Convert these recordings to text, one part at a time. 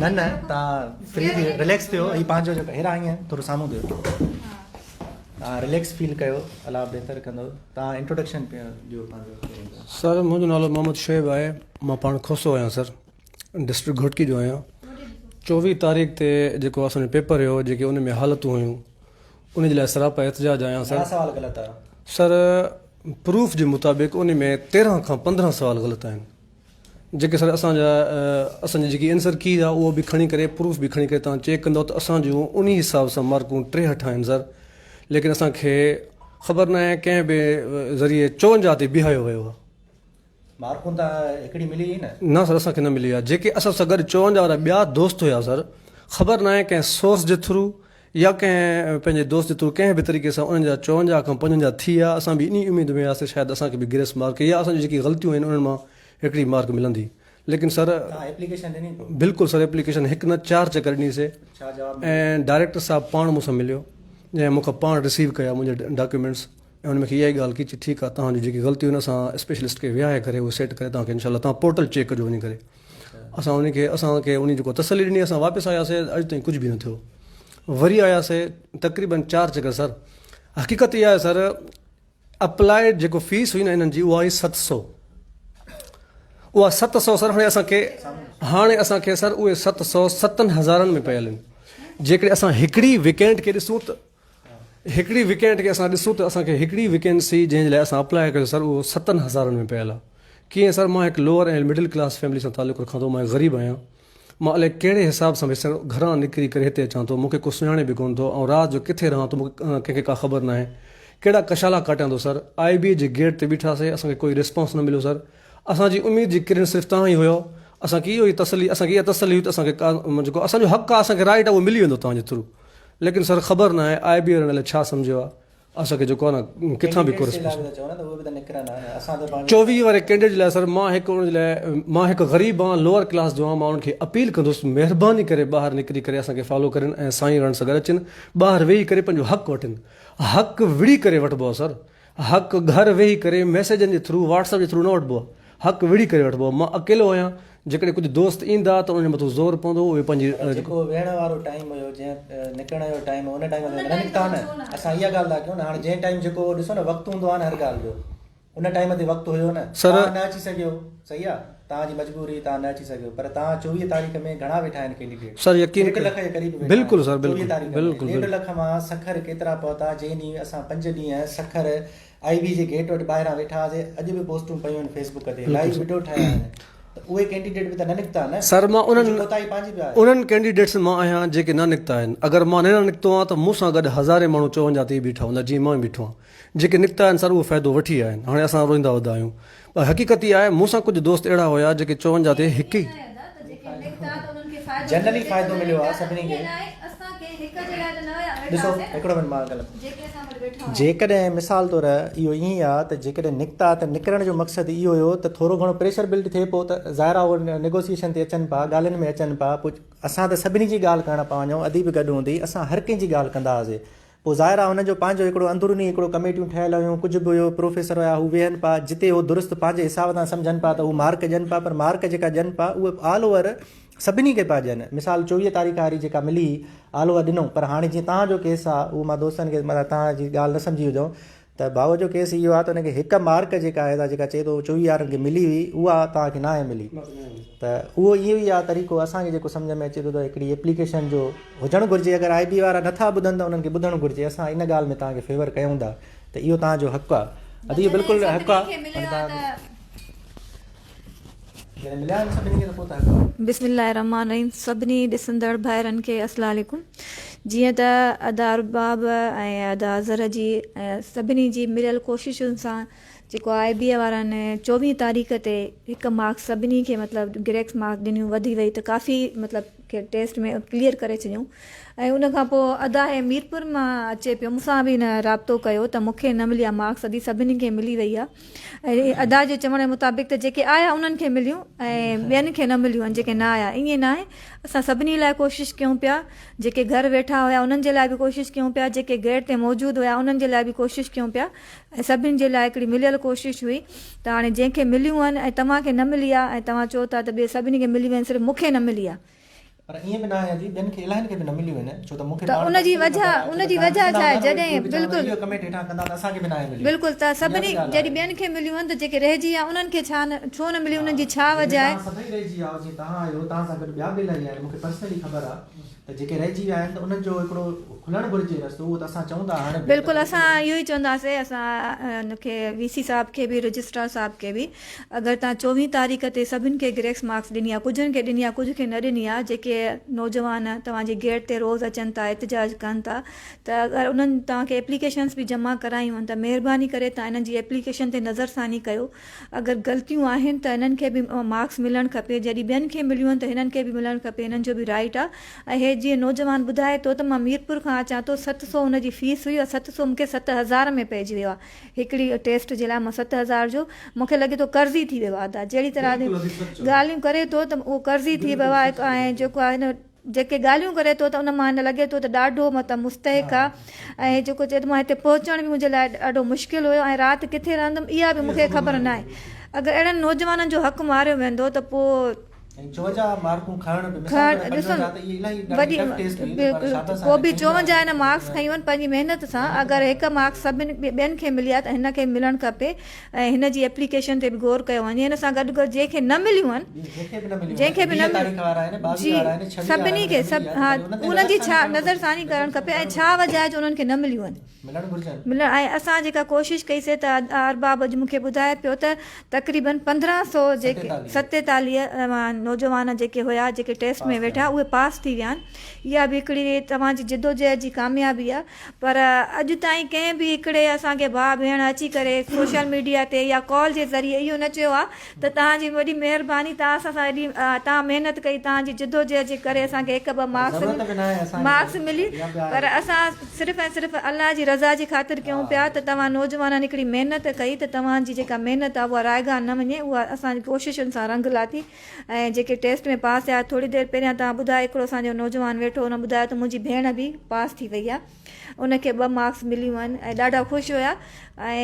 نه نه تان فري ٿي ريليڪس ٿيو هي پانجو جو هيرا آئين ٿورو سامو ٿيو تان ريليڪس فيل ڪيو الله بهتر ڪندو تان انٽروڊڪشن جو پانجو سر منجو نالو محمد شعيب آهي ما پان کوسو آهيان سر ڊسٽرڪٽ گھوٽڪي جو آهيان 24 تاريخ تي جيڪو اسان پيپر هيو جيڪي ان ۾ حالتون هيون ان جي لاء سراپا احتجاج آهيان سر سوال غلط آهي سر پروف جي مطابق ان ۾ 13 کان 15 سوال غلط آهن جيڪي سر اسان جا اسان جي جيڪي انسر ڪيز آ اهو به کڻي ڪري پروف به کڻي ڪري توهان چيڪ ڪندو ته اسان جون انهي حساب سان مارڪون ٽيهٺ آهن سر ليڪن اسان کي خبر ناهي ڪنهن به ذريعي چونجاهه تي بيهايو ويو آهي مارڪون ته هڪڙي ملي هئي نه نه سر اسان کي نه ملي آهي جيڪي اسان سان گڏ چونجاهه وارا ٻيا دوست هيا سر خبر ناهي ڪنهن سورس جي ٿرو يا ڪنهن پنهنجي دوست جي ٿرو ڪنهن به طريقي سان انهن جا چونجاهه کان پنجونجاهه ٿي ويا اسان به انهي اميد ۾ هياسين شايد اسان کي به گريس مارڪ يا اسان جون جيڪي غلطيون آهن انهن مان هڪڙي مارڪ ملندي ليڪن سر توهان ايپليڪيشن ڏني ڪو؟ بلڪل سر ايپليڪيشن هڪ نه چار چڪر ڏني سي ڇا جواب مليو؟ ۽ ڊائريڪٽر صاحب پاڻ مون سان مليو جنهن مون کان پاڻ رسيو ڪيا منهنجا ڊاڪيومينٽس ۽ هن مون کي اها ئي ڳالهه ڪئي چي ٺيڪ آهي توهان جون جيڪي غلطيون آهن اسان اسپيشلسٽ کي ويهاري ڪري اهو سيٽ ڪري توهان کي انشاء الله توهان پورٽل چيڪ ڪجو وڃي ڪري اسان انهن کي اسان کي انهن جيڪو تسلي ڏني اسان واپس آياسي اڄ تائين ڪجهه به نه ٿيو وري آياسي تقريبن چار چڪر سر حقيقت اها آهي سر اپلائيڊ جيڪو فيس هئي نه انهن جي اها هئي ست سو اها ست سو سر هاڻي اسان کي هاڻي اسان کي سر اهي ست سو ستن هزارن ۾ پيل آهن جيڪڏهن اسان هڪڙي ويڪينٽ کي ڏسون ته هڪڙي ويڪنٽ کي اسان ڏسون ته اسان کي هڪڙي ويڪنسي جنهن جي لاء اسان اپلاء ڪيو سر اهو ستن هزارن ۾ پيل آهي ڪيئن سر مان هڪ لوئر ۽ مڊل ڪلاس فيملي سان تعلق رکان ٿو مان هڪ غريب آهيان مان الائي ڪهڙي حساب سان سر گهران نڪري ڪري هتي اچان ٿو مون کي ڪو سڃاڻي به ڪونه ٿو آئون رات جو ڪٿي رهان ٿو مون کي ڪنهن کي ڪا خبر ناهي ڪهڙا ڪشالا ڪاٽيان ٿو سر آء بي جي گيٽ تي بيٺا سي اسان کي ڪوئي ريسپانس نه مليو سر اسان جي اميد جي ڪرڻ صرف توهان ئي هيو اسان کي اهو ئي تسلي اسان کي اها تسلي هئي ته اسان کي ڪا جيڪو اسان جو حق آهي اسان کي رائٽ آهي اهو ملي ويندو توهان جي ٿرو ليڪن سر خبر ناهي آء بي ارڙ لاء ڇا سمجهيو آ اسان کي جيڪو آ نه ڪٿان به ڪورس چوويهه واري ڪينڊيڊ لاء سر مان هڪ ان جي لاء مان هڪ غريب آن لوئر ڪلاس جو آن مان انهن کي اپيل ڪندس مهرباني ڪري ٻاهر نڪري ڪري اسان کي فالو ڪرين ۽ سائين ارڙ سان گڏ اچن ٻاهر ويهي ڪري پنهنجو حق وٺن حق وڙهي ڪري وٺبو آ سر حق گهر ويهي ڪري ميسيجن جي ٿرو واٽس اپ جي ٿرو نه وٺبو آهي حق وڙهي ڪري وٺبو آهي مان اڪيلو آهيان جيڪڏهن ڪجهه دوست ايندا ته انهن جي مٿو زور پوندو اهي پنهنجي. پر جيڪو ويهڻ وارو ٽائيم هيو جنهن نڪرڻ جو ٽائيم هو ان ٽائيم تي نه نڪتا نه اسان اها ڳالهه ٿا ڪيون نه هاڻي جنهن ٽائيم جيڪو ڏسو نه وقت هوندو آهي نه هر ڳالهه جو ان ٽائيم تي وقت هيو نه سر نه اچي سگهيو صحيح آهي. توهان جي مجبوري هئي توهان نه اچي سگهيو پر توهان چوويهه تاريخ ۾ گهڻا ويٺا آهن ڪينڊيڊيٽ سر يقين ڏيڍ لک جي قريب ويٺا بلڪل سر بلڪل چوويهه تاريخ ۾ بلڪل ڏيڍ لک مان سکر ڪيترا پهتا جنهن ڏينهن اسان پنج ڏينهن سکر آئي بي جي گيٽ وٽ ٻاهران ويٺا هئاسي اڄ به پوسٽون پيون آهن فيس بڪ تي لائيو وڊيو ٺاهيا آهن ته اهي ڪينڊيڊيٽ به ته نه نڪتا نه سر مان انهن ڪوتاهي پنهنجي به آهي انهن ڪينڊيڊيٽس مان آهيان جيڪي نه نڪتا آهن اگر مان نه نه نڪتو آهان ته مون سان گڏ هزارين ماڻهو چون جا تي بيٺا هوندا جيئن مان بيٺو آهان جيڪي نڪتا آهن سر اهو فائدو وٺي آيا آهن هاڻي اسان روئيندا ادا آهيون پر حقيقت اها آهي مون سان ڪجهه دوست اهڙا هيا جيڪي چون جا تي هڪ ئي جنرلي فائدو مليو آهي سڀني کي ڏسو هڪڙو منٽ مان غلط جيڪڏهن مثال طور اهو ائين آهي ته جيڪڏهن نڪتا ته نڪرڻ جو مقصد اهو هيو ته ٿورو گهڻو پريشر بلڊ ٿئي پو ته ظاهر آهي اهو نيگوسيئيشن تي اچن پيا ڳالهين ۾ اچن پيا پو اسان ته سڀني جي ڳالهه ڪرڻ پيا وڃون ادي به گڏ هوندي اسان هر ڪنهن جي ڳالهه ڪندا هئاسي پوء ظاهر آ هن جو پنهنجو هڪڙو اندروني هڪڙو ڪميٽيون ٺهيل هيون ڪجهه به هيو پروفيسر هيا هو ويهن پيا جتي هو درست پنهنجي حساب سان سمجهن پيا ته هو مارڪ ڏين پيا پر مارڪ جيڪا ڏين پيا اهي آل اوور سڀني کي پيا ڏين مثال چوويهه تاريخ واري جيڪا ملي آل اوور ڏنو پر هاڻي جيئن توهان جو ڪيس آ اهو مان دوستن کي مطلب توهان جي ڳالهه نه سمجهي هجئو ته ڀائو جو ڪيس اهو آهي ته ان کي هڪ مارڪ جيڪا آهي سا جيڪا چئي ٿو چويهه يارن کي ملي هئي اها توهان کي ناهي ملي ته اهو اهو ئي آهي طريقو اسان کي جيڪو سمجهه ۾ اچي ٿو ته هڪڙي ايپليڪيشن جو هجڻ گهرجي اگر آء بي وارا نٿا ٻڌن ته انهن کي ٻڌڻ گهرجي اسان ان ڳالهه ۾ توهان کي فيور ڪيون ٿا ته اهو توهان جو حق آهي ادي بلڪل حق آهي بسم الله الرحمٰن الرحيم سڀني ڏسندڙ ڀائرن کي السلام عليڪم جيئن ته ادا ارباب ۽ ادا اظهر جي ۽ سڀني جي مليل ڪوششن سان جيڪو آء بي اي وارن چوويهه تاريخ تي هڪ مارڪس سڀني کي مطلب گريڪس مارڪس ڏنيون وڌي وئي ته ڪافي مطلب کي ٽيسٽ ۾ ڪليئر ڪري ڇڏيون ۽ ان کان پوء ادا هي ميرپور مان اچي پيو مون سان به هن رابطو ڪيو ته مونکي نه مليا مارڪس ادي سڀني کي ملي وئي آهي ادا جي چوڻ مطابق ته جيڪي آيا انهن کي مليون ۽ ٻين کي نه مليون جيڪي نه آيا ائين ناهي اسان سڀني لاء ڪوشش ڪيون پيا جيڪي گهر ويٺا هيا انهن جي لاء به ڪوشش ڪيون پيا جيڪي گيٽ تي موجود هيا انهن جي لاء به ڪوشش ڪيون پيا ۽ سڀني جي لاء هڪڙي مليل ڪوشش هئي ته هاڻي جنهن کي مليون آهن ۽ توهان کي نه ملي آهي ۽ توهان چئو ٿا ته ٻي سڀني کي ملي ويون صرف مون کي نه ملي آهي پر ائين به نه آهي جي ٻين کي الاهين کي به نه مليون هن ڇو ته مون کي ته ان جي وجهه ان جي وجهه ڇا آهي جڏهن بلڪل ويڊيو ڪمينٽ هيٺان ڪندا ته اسان کي به نه آهي مليون بلڪل ته سڀني جڏهن ٻين کي مليون هن ته جيڪي رهجي ويا انهن کي ڇا نه ڇو نه مليون انهن جي ڇا وجهه آهي. جيڪي توهان سڀئي رهجي ويا آهيو جيئن توهان آهيو توهان سان گڏ ٻيا به الاهي آهن مون کي پرسنلي خبر آهي ته جيڪي رهجي ويا آهن ته انهن جو هڪڙو کلڻ گهرجي رستو اهو ته اسان چئون ٿا هاڻي به ته بلڪل اسان اهو ئي چونداسين اسان ان کي وي سي صاحب کي به رجسٽرار صاحب کي به اگر توهان چوويهين تاريخ تي سڀن کي گريڪس مارڪس ڏني يا ڪجهن کي ڏني يا ڪجهه کي نه ڏني ها جيڪي نوجوان توهان جي گيٽ تي روز اچن ٿا احتجاج ڪن ٿا ته اگر انهن توهان کي اپليڪيشنس به جمع ڪرايون هن ته مهرباني ڪري توهان انهن جي اپليڪيشن تي نظر ثاني ڪيو اگر غلطيون آهن ته انهن کي به مارڪس ملڻ کپي جڏهن ٻين کي مليون آهن ته هنن کي به ملڻ کپي هنن جو به رائيٽ آ ۽ هي جيئن نوجوان ٻڌائي ٿو ته مان ميرپور کان اچان ٿو ست سو ان جي فيس هئي اها ست سو مون کي ست هزار ۾ پئجي ويو آ هڪڙي ٽيسٽ جي لاء مان ست هزار جو مون کي لڳي ٿو قرضي ٿي ويو آهي ادا جهڙي طرح جون ڳالهيون ڪري ٿو ته اهو قرضي ٿي ويو آهي ۽ جيڪو آهي نه جيڪي ڳالهيون ڪري ٿو ته ان مان هن لڳي ٿو ته ڏاڍو مطلب مستحق آهي ۽ جيڪو چئي ٿو مان هتي پهچڻ به منهنجي لاء ڏاڍو مشڪل هيو ۽ رات ڪٿي رهندم اها به مون کي خبر ناهي اگر اهڙن نوجوانن جو حق ماريو ويندو ته پوء ڪو به چونجاهه نه مارڪس کنيو هن پنهنجي محنت سان اگر هڪ مارڪس سڀني ٻين کي مليا ته هن کي به ملڻ کپي ۽ هن جي اپليڪيشن تي به غور ڪيو وڃي هن سان گڏ گڏ جنهن کي نه مليون آهن جنهن کي به نه مليون جي سڀني کي انهن جي ڇا نظر ثاني ڪرڻ کپي ۽ ڇا وجهه آهي جو انهن کي نه مليون آهن ملڻ گهرجن. ملڻ ۽ اسان جيڪا ڪوشش ڪئي سي ته ارباب اڄ مون کي ٻڌائي پيو ته تقريباً پندرهن سئو جيڪي ستيتاليهه اوهان نوجوان جيڪي هيا جيڪي ٽيسٽ ۾ ويٺا اهي پاس ٿي ويا آهن اها به هڪڙي توهان جي جدوجهد جي ڪاميابي آهي پر اڄ تائين ڪنهن به هڪڙي اسان کي ڀاء ڀيڻ اچي ڪري سوشل ميڊيا تي يا ڪال جي ذريعي اهو نه چيو آهي ته توهان جي وڏي مهرباني توهان اسان سان ايڏي توهان محنت ڪئي توهان جي جدوجهد جي ڪري اسان کي هڪ ٻه مارڪس مارڪس ملي پر اسان صرف ۽ صرف الله جي رضا جي خاطر ڪيون پيا ته توهان نوجوانن هڪڙي محنت ڪئي ته توهان جي جيڪا محنت آهي اها رائگان نه وڃي اها اسان جي ڪوششن سان رنگ لاتي ۽ جيڪي ٽيسٽ ۾ پاس ٿيا ٿوري دير پهريان توهان ٻڌايو هڪڙو اسان جو نوجوان ويٺو هو هن ٻڌايو ته منهنجي ڀيڻ به پاس ٿي وئي آهي ان کي ٻه مارڪس مليون آهن ۽ ڏاڍا خوش هيا ۽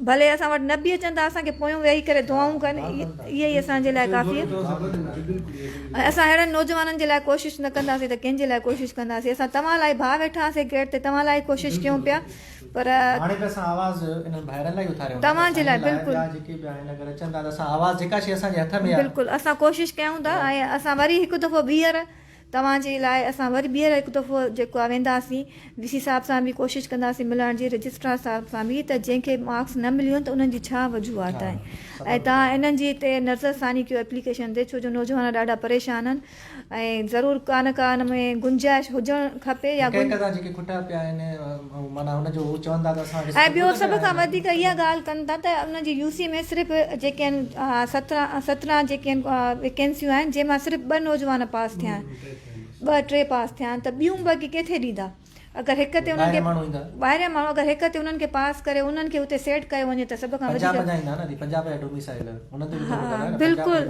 ڀلي اسان وٽ نه به اچن ته اسان کي پويون ويهي ڪري دعائون ڪن اهي ئي اسان جي لاء ڪافي آهي ۽ اسان اهڙن نوجوانن جي لاء ڪوشش نه ڪنداسين ته ڪنهن جي لاء ڪوشش ڪنداسين اسان توهان لاء ڀاء ويٺا هئاسين گيٽ تي توهان لاء ئي ڪوشش ڪيون پيا پر هاڻي به اسان آواز انهن ڀائرن لاء ئي اٿاريون ٿا توهان جي لاء بلڪل ٻيا جيڪي به آهن اگر اچن ٿا ته اسان آواز جيڪا شيء اسان جي هٿ ۾ آهي بلڪل اسان ڪوشش ڪيون ٿا ۽ اسان وري هڪ دفعو ٻيهر توهان جي لاء اسان وري ٻيهر هڪ دفعو جيڪو آهي وينداسين وي سي صاحب سان به ڪوشش ڪنداسين ملڻ جي رجسٽرار صاحب سان به ته جنهن کي مارڪس نه مليون ته انهن جي ڇا وجوهات آهن ۽ تهان انهن جي تي نرظر ثاني ڪيو اپليڪيشن تي ڇو جو نوجوان ڏاڍا پريشان آهن ۽ ضرور ڪا نه ڪا ان ۾ گنجائش هجڻ کپي يا هڪ هڪ سان جيڪي کٽا پيا آهن ۽ ٻيو سڀ کان وڌيڪ اها ڳالهه ڪن ٿا ته ان جي يو سي ۾ صرف جيڪي آهن سترهن سترهن جيڪي آهن ويڪنسيون آهن جنهن مان صرف ٻه نوجوان پاس ٿيا آهن ٻه ٽي پاس ٿيا آهن ته ٻيون باقي ڪٿي ڏيندا اگر هڪ تي انهن کي ٻاهريان ماڻهو اگر هڪ تي انهن کي پاس ڪري انهن کي اتي سيٽ ڪيو وڃي ته سڀ کان وڌيڪ ها بلڪل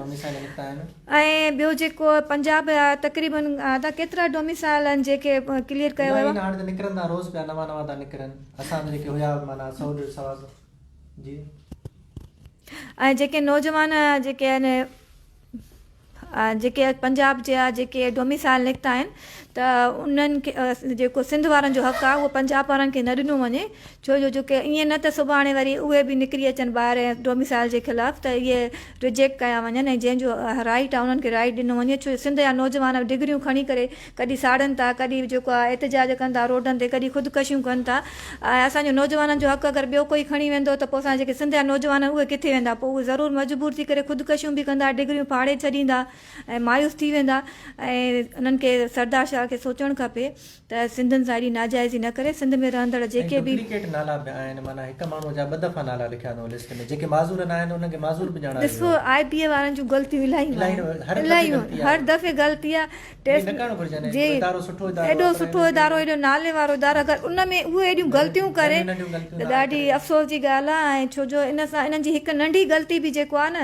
۽ ٻيو جيڪو پنجاب آ تقريبا ادا ڪيترا ڊوميسائل آھن جيڪي ڪليئر ڪيو ويو آ. الاهي نه هاڻي ته نڪرن ٿا روز پيا نوان نوان ٿا نڪرن اسان ته جيڪي هيا معنيٰ سؤ ڏيڍ سوا سؤ جي. ۽ جيڪي نوجوان جيڪي آھن جيڪي پنجاب جي آ جيڪي ڊوميسائل نڪتا آھن. ته انهن کي جيڪو سنڌ وارن جو حق آهي اهو پنجاب وارن کي نه ڏنو وڃي ڇو جو جيڪي ائين نه ته سڀاڻي وري اهي به نڪري اچن ٻاهر ۽ ڊوميسائل جي خلاف ته اهي رجيڪٽ ڪيا وڃن ۽ جنهن جو رائيٽ آهي انهن کي رائيٽ ڏنو وڃي ڇو جو سنڌ جا نوجوان ڊگريون کڻي ڪري ڪڏهن ساڙن ٿا ڪڏهن جيڪو آهي احتجاج ڪن ٿا روڊن تي ڪڏهن خودڪشيون ڪن ٿا ۽ اسان جو نوجوانن جو حق اگر ٻيو ڪوئي کڻي ويندو ته پوء اسان جا جيڪي سنڌ جا نوجوان آهن اهي ڪٿي ويندا پوء اهي ضرور مجبور ٿي ڪري خودڪشيون به ڪندا ڊگريون ڦاڙي ڇڏيندا ۽ مايوس ٿي ويندا ۽ انهن کي سردار شاهه کي سوچڻ کپي ته سنڌين سان ايڏي ناجائزي نه ڪري سنڌ ۾ رهندڙ جيڪي به. ۽ ڊپليڪيٽ نالا به آهن معنيٰ هڪ ماڻهو جا ٻه دفعا نالا لکيا اٿئون لسٽ ۾ جيڪي معذور نه آهن انهن کي معذور به ڄاڻايو ويو آهي. ڏسو آء پي اي وارن جون غلطيون الاهي آهن الاهي هر دفعي غلطي آهي ٽيسٽ ائين نه ڪرڻ گهرجي نه اهڙو ادارو سٺو ادارو آهي ايڏو سٺو ادارو ايڏو نالي وارو ادارو اگر ان ۾ اهي ايڏيون غلطيون ڪري ته ڏاڍي افسوس جي ڳالهه آهي ۽ ڇو جو ان سان انهن جي هڪ ننڍي غلطي به جيڪو آهي نه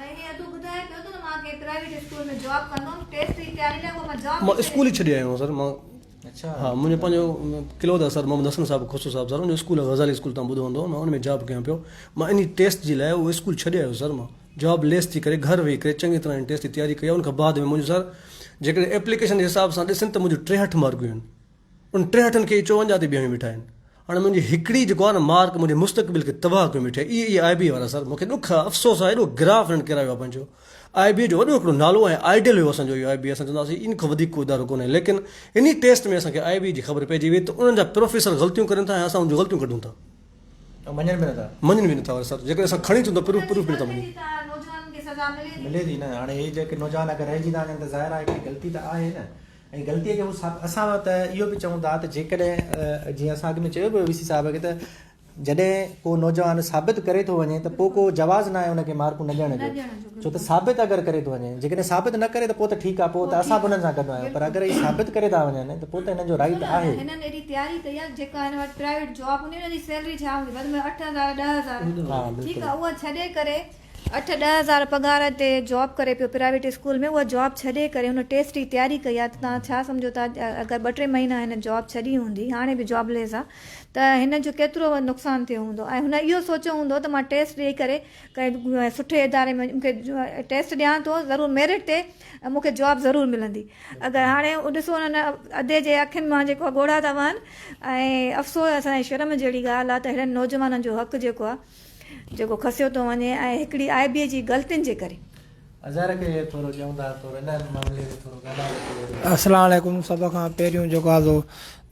ائين اتو ٻڌائي پيو ته مان ڪنهن پرائيويٽ اسڪول ۾ جاب ڪندوم ٽيسٽ جي تياري لاء اهو مان جاب مان اسڪول ئي ڇڏي آيو آهيان سر مان اڇا منهنجو پنهنجو ڪلوز آهي سر محمد حسن صاحب خسرو صاحب سر ان جو اسڪول آهي غزالي اسڪول تان ٻڌو هوندو مان ان ۾ جاب ڪيان پيو مان انهي ٽيسٽ جي لاء اهو اسڪول ڇڏي آيو سر مان جاب ليس ٿي ڪري گهر ويهي ڪري چڱي طرح ان ٽيسٽ جي تياري ڪئي آهي ان کان بعد ۾ منهنجو سر جيڪڏهن ايپليڪيشن جي حساب سان ڏسن ته منهنجو ٽيهٺ مارڪون آهن انهن ٽيهٺن کي اي چوونجاهه تي بيهاري بيٺا آهن. هاڻي منهنجي هڪڙي جيڪو آهي نه مارڪ منهنجي مستقبل کي تباهه ڪيو بيٺي آهي. اي اي آء بي وارا سر مون کي ڏک آهي افسوس آهي ايڏو گراف هنن ڪيرايو آهي پنهنجو. آء بي جو وڏو هڪڙو نالو ۽ آئيڊل هيو اسان جو اهو آء بي اسان چوندا هئاسين ان کان وڌيڪ ڪو ادارو ڪونهي ليڪن انهي ٽيسٽ ۾ اسان کي آء بي جي خبر پئجي وئي ته انهن جا پروفيسر غلطيون ڪرين ٿا ۽ اسان انهن جون غلطيون ڪڍون ٿا. ۽ مڃن به نه ٿا. مڃن به نه ٿا وارا سر جيڪڏهن اسان کڻي ٿيون ته پروف پروف به نه ٿا مڃن. ملي ٿي نه هاڻي اهي جيڪي نوجوان اگر رهجي ٿا وڃن ته ظاهر آهي هڪڙي غلطي ته آهي نه. ۽ غلطيء جو به ساٿ اسان ته اهو به چئون ٿا ته جيڪڏهن جيئن اسان اڳ ۾ چيو به هو وي سي صاحب کي ته جڏهن ڪو نوجوان ثابت ڪري ٿو وڃي ته پوء ڪو جواز ناهي ان کي مارڪون نه ڏيڻ جو ڇو ته ثابت اگر ڪري ٿو وڃي جيڪڏهن ثابت نه ڪري ته پوء ته ٺيڪ آهي پوء ته اسان به انهن سان گڏ آهيون پر اگر هي ثابت ڪري ٿا وڃن ته پوء ته هنن جو رائيٽ آهي. هنن ايڏي تياري ڪئي آهي جيڪا هن وٽ پرائيويٽ جاب هوندي ان جي سيلري ڇا هوندي وڌ ۾ وڌ اٺ هزار ڏهه هزار ٺيڪ آهي اها ڇڏي ڪري اٺ ڏهه هزار پگهار تي جاب ڪري پيو پرائيويٽ اسڪول ۾ اها جاب ڇڏي ڪري هن ٽيسٽ جي تياري ڪئي آهي ته توهان ڇا سمجهو ٿا اگر ٻه ٽي مهينا هن جاب ڇڏي هوندي هاڻي به جاب ليس آهي ته هن جو ڪيترو نقصان ٿيو هوندو ۽ هن اهو سوچيو هوندو ته مان ٽيسٽ ڏئي ڪري ڪنهن سٺي اداري ۾ مونکي ٽيسٽ ڏيان ٿو ضرور ميرٽ تي مونکي جاب ضرور ملندي اگر هاڻي ڏسو هن ادي جي اکين مان جيڪو ڳوڙها ٿا وهن ۽ افسوس ۽ شرم جهڙي ڳالهه آهي ته اهڙن نوجوانن جو حق جيڪو آهي جيڪو کسيو ٿو وڃي ۽ هڪڙي آء بي جي غلطين جي ڪري. اظهر کي ٿورو ڏيون ٿا تو رڳا هن معاملي تي ٿورو ڳالهائي ته ڪليئر هجي. السلام عليڪم سڀ کان پهريون جيڪو آ سو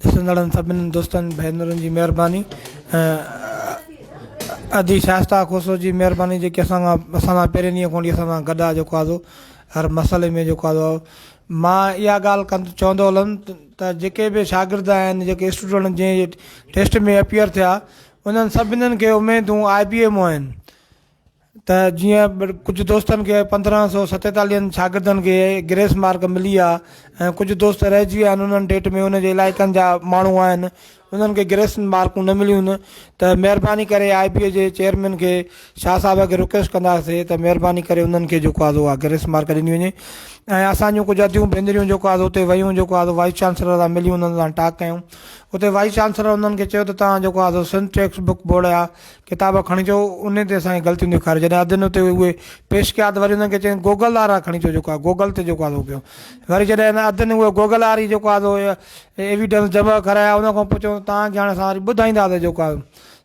ڏسندڙن سڀني دوستن ڀينرن جي مهرباني ۽ ادي شائسته کوسو جي مهرباني جيڪي اسان کان اسان سان پهرين ڏينهن کان وٺي اسان سان گڏ آ جيڪو آ سو هر مسئلي ۾ جيڪو آ سو مان اها ڳالهه ڪند چوندو هلندس ته جيڪي به شاگرد آهن جيڪي اسٽوڊنٽ جنهن ٽيسٽ ۾ اپيئر ٿيا انهن سڀني کي اميدون آء بي اي مون آهن ته جيئن ڪجهه دوستن کي پندرهن سو ستيتاليهن شاگردن کي گريس مارڪ ملي آهي ۽ ڪجهه دوست رهجي ويا آهن انهن ڊيٽ ۾ ان جي علائقن جا ماڻهو آهن انهن کي گريس مارڪون نه مليون ته مهرباني ڪري آء بي اي جي چيئرمين کي شاهه صاحب کي رڪويسٽ ڪنداسي ته مهرباني ڪري انهن کي جيڪو آهي سو گريس مارڪ ڏني وڃي ۽ اسان جون ڪجهه اديون ڀينريون جيڪو آهي سو اتي ويون جيڪو آهي سو وائيس چانسلر سان مليون انهن سان ٽاڪ ڪيون اتي وائيس چانسلر انهن کي چيو ته توهان جيڪو آ سو سنڌ ٽيڪسٽ بڪ بورڊ جا ڪتاب کڻي اچو انهي تي اسان کي غلطيون ڏيکاريو جڏهن ادين اتي اهي پيش ڪيا ته وري انهن کي چيائين گوگل آر آر کڻي اچو جيڪو آ گوگل تي جيڪو آ سو ڪيو وري جڏهن هن ادين اهي گوگل آر آر جيڪو آ سو ايويڊنس جمع ڪرايا ان کان پوء چيو توهان کي هاڻي اسان وري ٻڌائينداسين جيڪو آ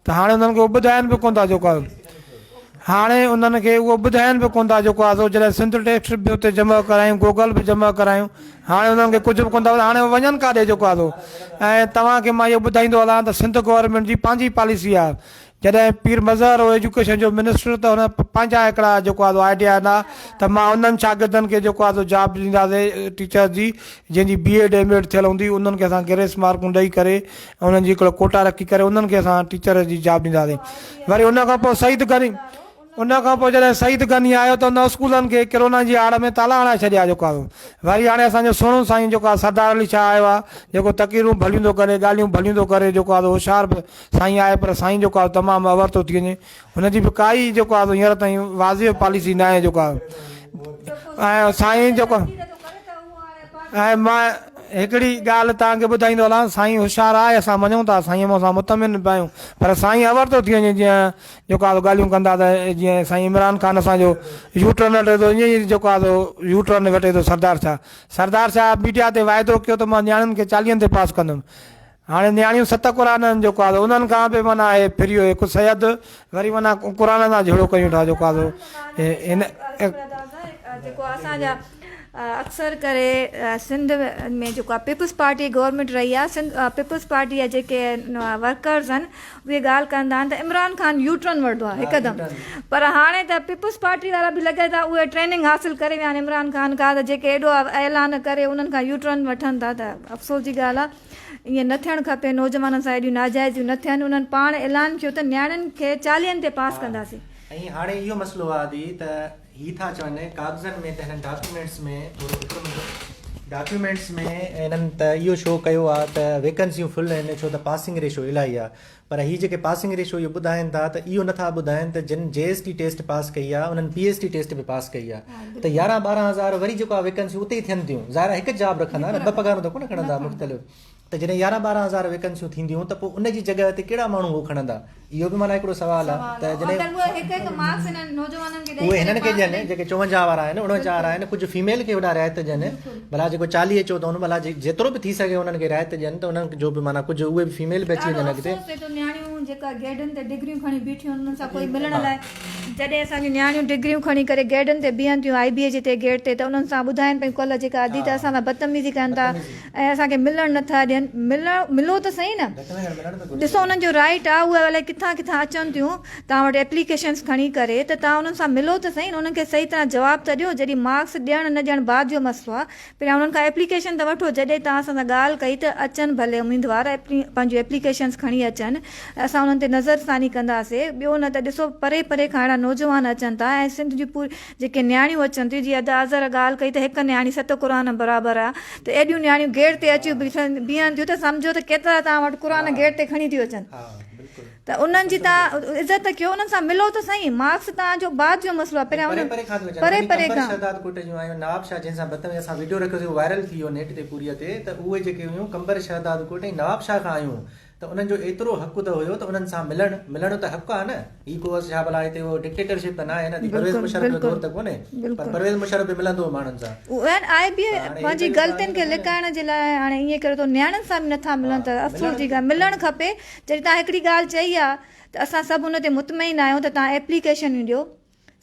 ته هاڻي انهن کي اهو ٻڌائين به ڪونه ٿا جو ڪا هاڻي انهن کي اهو ٻڌائين به ڪونه ٿا جو ڪا سو جڏهن سنڌ ٽيڪسٽ به اتي جمع ڪرايون گوگل به جمع ڪرايون هاڻي انهن کي ڪجهه به ڪونه ٿا هاڻي وڃن ڪاڏي جو ڪا سو ۽ توهان کي مان اهو ٻڌائيندو هلان ته سنڌ گورنمينٽ جي پنهنجي پاليسي آ جڏهن پير مظهر هو ايجوڪيشن جو منسٽر ته هن پنهنجا هڪڙا جو ڪا سو آئيڊيا آنا ته مان انهن شاگردن کي جو ڪا سو جاب ڏينداسي ٽيچر جي جنهن جي بي ايڊ ايم ايڊ ٿيل هوندي انهن کي اسان گريس مارڪون ڏئي ڪري ۽ انهن جي هڪڙو ڪوٽا رکي ڪري انهن کي اسان ٽيچر جي جاب ڏينداسين وري ان کان پوء سعيد غني ان کان پوء جڏهن سعيد غني آيو ته ان اسڪولن کي ڪرونا جي آڙ ۾ تالا هڻائي ڇڏيا جيڪا وري هاڻي اسان جو سهڻو سائين جيڪو آهي سردار علي شاهه آيو آهي جيڪو تقريرون ڀليون ٿو ڪري ڳالهيون ڀليون ٿو ڪري جيڪو آهي هوشيار به سائين آهي پر سائين جيڪو آهي تمام اورتو ٿي وڃي هن جي به ڪائي جيڪو آهي هينئر تائين واضح پاليسي ناهي جيڪو آهي ۽ سائين جيڪو ۽ مان هڪڙي ڳالهه تان کي ٻڌائيندو هلان سائين هوشيار آهي اسان مڃون ٿا سائين مون سان مطمئن به آهيون پر سائين اوور ٿو ٿي وڃي جيئن جيڪو آهي ڳالهيون ڪندا ته جيئن سائين عمران خان اسان جو يو ٽرن وٺي ٿو ائين ئي جيڪو آهي يو ٽرن وٺي ٿو سردار شاهه سردار شاهه ميڊيا تي واعدو ڪيو ته مان نياڻين کي چاليهن تي پاس ڪندم هاڻي نياڻيون ست قرآنن جو قاضو انهن کان به معنيٰ آهي پھريون هڪ سيد وري معنيٰ قرآن سان جھڙو ڪيون ٺا جو قاضو هن جيڪو اسان جا اڪثر ڪري سنڌ ۾ جيڪو آهي پيپلز پارٽي گورنمينٽ رهي آهي سنڌ پيپلز پارٽي جا جيڪي ورڪرز آهن اهي ڳالهه ڪندا آهن ته عمران خان يو ٽرن وٺدو آهي هڪدم پر هاڻي ته پيپلز پارٽي وارا به لڳي ٿا اهي ٽريننگ حاصل ڪري ويا آهن عمران خان کان ته جيڪي ايڏو اعلان ڪري انهن کان يو ٽرن وٺن ٿا ته افسوس جي ڳالهه آهي ائين نه ٿيڻ کپي، نوجوانن سان اهڙيون ناجائزيون نه ٿين، انهن پاڻ اعلان ڪيو ته نياڻين کي چاليهن تي پاس ڪنداسين. ۽ هاڻي اهو مسئلو آهي ادي ته هي ٿا چون ڪاغذن ۾ ته هنن ڊاڪيومينٽس ۾ ٿورو هڪڙو منٽ ڊاڪيومينٽس ۾ هنن ته اهو شو ڪيو آهي ته ويڪنسيون فل آهن ڇو ته پاسنگ ريشو الاهي آهي پر هي جيڪي پاسنگ ريشو اهو ٻڌائين ٿا ته اهو نٿا ٻڌائين ته جن جي ايس ٽي ٽيسٽ پاس ڪئي آهي انهن پي ايس ٽي ٽيسٽ به پاس ڪئي آهي ته يارهن ٻارهن هزار وري جيڪو آهي ويڪنسيون اتي ئي ٿين ٿيون ظاهر آهي هڪ جاب رکندا نه ٻه پگهارون ته ڪونه کڻندا مختلف ته جڏهن يارهن ٻارهن هزار ويڪنسيون ٿينديون ته پوء ان جي جڳهه تي ڪهڙا ماڻهو هو کڻندا اهو به معنيٰ هڪڙو سوال آهي ته جڏهن اهي هنن کي ڏين جيڪي چونجاهه وارا آهن اڻونجاهه وارا آهن ڪجهه فيميل کي هوڏانهن رعايت ڏين ڀلا جيڪو چاليهه چئو ته ان ڀلا جيترو به ٿي سگهي انهن کي رعايت ڏين ته انهن جو به معنيٰ ڪجهه اهي به فيميل به اچي وڃن اڳتي. ڏاڍو افسوس ٿئي ٿو نياڻيون جيڪا گيڊن تي ڊگريون کڻي بيٺيون انهن سان ڪوئي ملڻ لاء جڏهن اسان جون نياڻيون ڊگريون کڻي ڪري گيڊن تي بيهن ٿيون آئي بي اي جي تي گيڊ تي ته انهن سان ٻڌائين پيون ڪلهه جيڪا ادي ته اسان سان بدتميزي ڪن ٿا ۽ اسان کي ملڻ نه ٿا ڏين ملڻ ملو ته سهي نه ڏسو انهن جو رائيٽ آ اهي الائي ڪٿان ڪٿان اچن ٿيون. توهان وٽ ايپليڪيشنز کڻي ڪري ته توهان انهن سان ملو ته سهين انهن کي صحيح طرح جواب ته ڏيو جڏهن مارڪس ڏيڻ نه ڏيڻ بعد جو مسئلو آهي پهريان انهن کان ايپليڪيشن ته وٺو جڏهن توهان اسان سان ڳالهه ڪئي ته اچن ڀلي اميدوار پنهنجون ايپليڪيشنز کڻي اچن اسان انهن تي نظر ثاني ڪنداسي ٻيو نه ته ڏسو پري پري کان اهڙا نوجوان اچن ٿا ۽ سنڌ جون پوري جيڪي نياڻيون اچن ٿيون جيئن ادا اظهر ڳالهه ڪئي ته هڪ نياڻي ست قرآن برابر آهي ته ايڏيون نياڻيون گيٽ تي اچي بيهن ٿيون ته سمجهو ته ڪيترا توهان وٽ قرآن گيٽ تي کڻي ٿيون اچن ته انهن جي توهان عزت ته ڪيو، انهن سان ملو ته سهين. مارڪس توهان جو بعد جو مسئلو آهي، پهريان انهن پري پري کان. شهداد ڪوٽ جون آيون نواب شاهه جن سان بتميز اسان وڊيو رکيو سي وائرل ٿي ويو نيٽ تي پوريء تي ته اهي جيڪي هيون قمبر شهداد ڪوٽ ۽ نواب شاهه کان آيون ته انهن جو ايترو حق ته هيو ته انهن سان ملڻ ملڻ ته حق آهي نه هي ڪو ڇا ڀلا هتي هو ڊڪٽيٽر شپ ته نه آهي نه ٿي پرويز مشرف جو دور ته ڪونهي پر پرويز مشرف به ملندو هو ماڻهن سان ان آء به پنهنجي غلطين کي لڪائڻ جي لاء هاڻي ائين ڪري ٿو نياڻين سان به نٿا ملن ته افسوس جي ڳالهه ملڻ کپي جڏهن توهان هڪڙي ڳالهه چئي آ ته اسان سڀ ان تي مطمئن آهيون ته توهان ايپليڪيشنيون ڏيو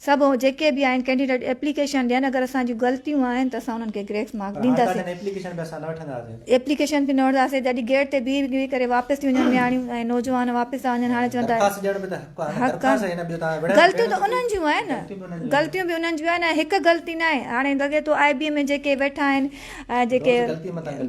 سڀ جيڪي به آهن ڪينڊيڊيٽ ايپليڪيشن ڏين اگر اسان جون غلطيون آهن ته اسان انهن کي گريس مارڪ ڏينداسين ايپليڪيشن به نه وٺنداسين جڏهن گيٽ تي بيهي بيهي ڪري واپس ٿيون وڃن نياڻيون ۽ نوجوان واپس ٿا وڃن هاڻي چون ٿا غلطيون ته انهن جون آهن غلطيون به انهن جون آهن هڪ غلطي ناهي هاڻي لڳي ٿو آئي بي ايم ۾ جيڪي ويٺا آهن ۽ جيڪي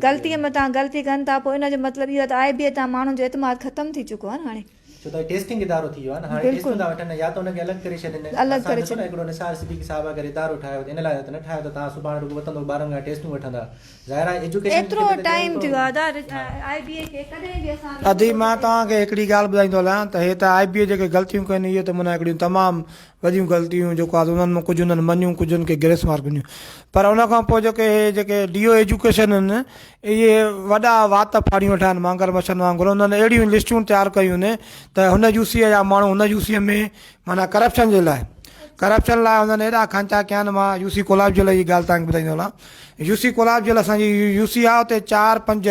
غلطيء مٿان غلطي ڪن ٿا پوء ان جو مطلب اهو آهي ته آء بي تان ماڻهن جو اعتماد ختم ٿي چڪو آهي نه هاڻي. ڇو ته هي ٽيسٽنگ ادارو ٿي ويو آهي نه هاڻي ٽيسٽون ٿا وٺن نه يا ته ان کي الڳ ڪري ڇڏين نه اسان ڏسو نه هڪڙو نثار صديقي صاحب اگر ادارو ٺاهيو ته ان لاء ته نه ٺاهيو ته توهان سڀاڻي رڳو وتندو ٻارن کان ٽيسٽون وٺندا ظاهر آهي ايجوڪيشن کي ته ٽائيم ٿي ويو آء بي اي کي ڪڏهن به اسان ادي مان توهان کي هڪڙي ڳالهه ٻڌائيندو هلان ته هي ته آء بي اي جيڪي غلطيون ڪن اهي ته منا هڪڙيون تمام وڏيون غلطيون جيڪو آ انهن مان ڪجهه انهن مڃيون ڪجهن کي گريس مارڪ ڏنيون پر ان کان پوء جيڪي هي جيڪي ڊي او ايجوڪيشن آهن اهي وڏا وات ڦاڙيون ويٺا آهن مانگر مڇن وانگر انهن اهڙيون لسٽون تيار ڪيون آهن ته هن يو سي جا ماڻهو هن يو سي ۾ معنيٰ ڪرپشن جي لاء ڪرپشن لاء انهن اهڙا کانچا ڪيا آهن مان يو سي ڪولاب جي لاء جي ڳالهه تانکي ٻڌائيندو هلان يو سي ڪولاب جي لاء اسانجي يو سي آ اتي چار پنج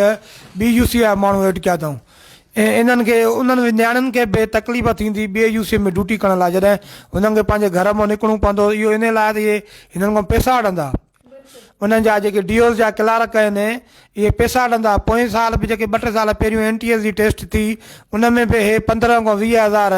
ٻي يو سي جا ماڻهو ايڊ ڪيا اٿئون ۽ انهن کي انهن نياڻين کي به تڪليف ٿيندي ٻئي يو سي ۾ ڊيوٽي ڪرڻ لاء جڏهن هنن کي پنهنجي گهر مان نڪرڻو پوندو اهو انهي لاء ته اهي هنن کان پئسا اڙندا انهن جا جيڪي ڊي اوز جا ڪلارڪ آهن اهي پئسا اڙندا پوئين سال به جيڪي ٻه ٽي سال پهريون اين ٽي ايس جي ٽيسٽ ٿي ان ۾ به اهي پندرهن کان ويهه هزار